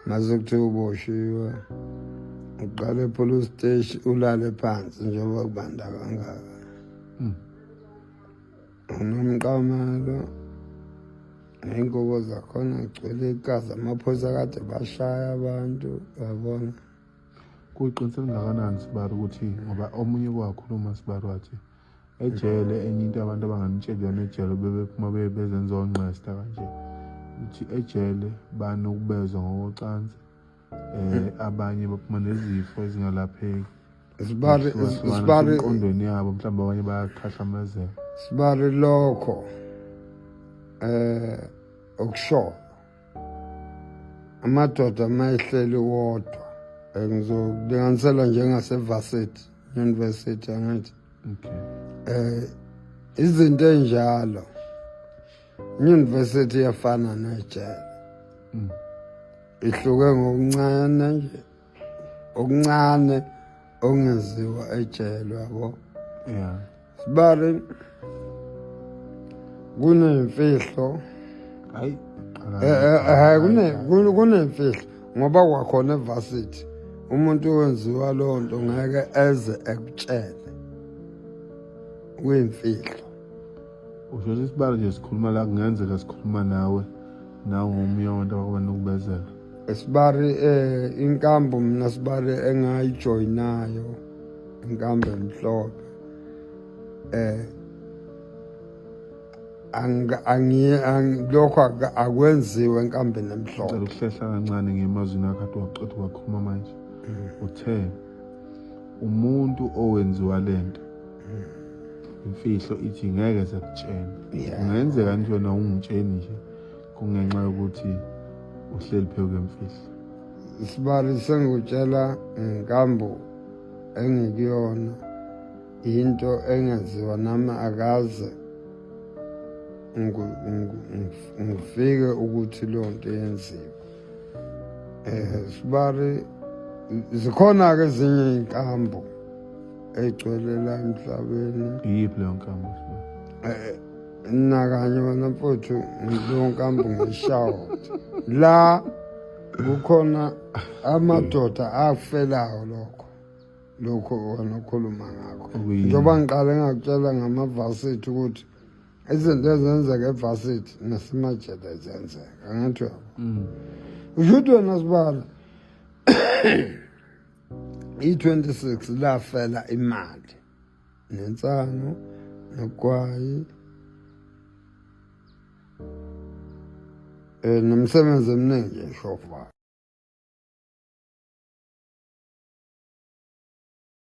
mase kuthiwa uboshiwe uqale epolice steshi ulale phansi njengoba kubanda kangaka hmm. unomqamelo ney'ngubo zakhona gcwele igazi amaphoyisa kade bashaya abantu yabona kuyiqinisela ngakanani sibari ukuthi ngoba omunye kwakhuluma sibari wathi ejele enye into abantu abanganitsheli yona ejele bebephuma beye bezenza ongqesta kanje ukuthi ejele banokubezwa ngokocansi um abanye baphuma nezifo ezingalapheki sibale sibale enkondweni yabo mhlawumbe abanye bayakhahlamezeka sibale lokho eh okushoyo amadoda uma ehleli wodwa eh, ngizokulinganisela njengasevarsity university angithi okay. eh izinto enjalo university yafana nejele mm. ihluke ngokuncane nje okuncane okungeziwa ejele yabo yeah sibale kunemfihlo hayi eh, eh, eh, kune kunemfihlo ngoba kwakhona evarsity umuntu owenziwa loo nto ngeke eze ekutshele kuyimfihlo usho ukuthi isibalo nje sikhuluma la kungenzeka sikhuluma nawe nawe ngomunye wabantu abakuba nokubezela esibari eh inkambo mina sibari engayijoyinayo inkambo emhlophe eh lokho akwenziwe enkambeni emhlophe cela ukuhlehla kancane ngemazwini akhe ade waqeda wakhuluma manje mm. uthe umuntu owenziwa lento imfihlo ithi ngeke sekutshena kungenzeka nje wena ungitsheni nje kungenxa yokuthi uhleli phezu kwemfihlo isibari sengikutshela ngikambo engikuyona into engenziwa nami akaze ngifike ukuthi leyo nto yenziwe Eh sibari zikhona ke ezinye inkambo egcwele la emhlabeni. Iyiphi leyo nkambo sibari? Eh nakanye wena mfowethu leyo nkambo ngishawo. La kukhona amadoda afelayo lokho. lokho wena okhuluma ngakho njengoba ngiqale ngakutshela ngamavasethi ukuthi izinto ezenzeka evasithi nasemajeda zenzeka angathi yabo mm. usho ukuthi wena sibala i-26 lafela imali nensano nogwayi um nomsebenzi eminingi eshofana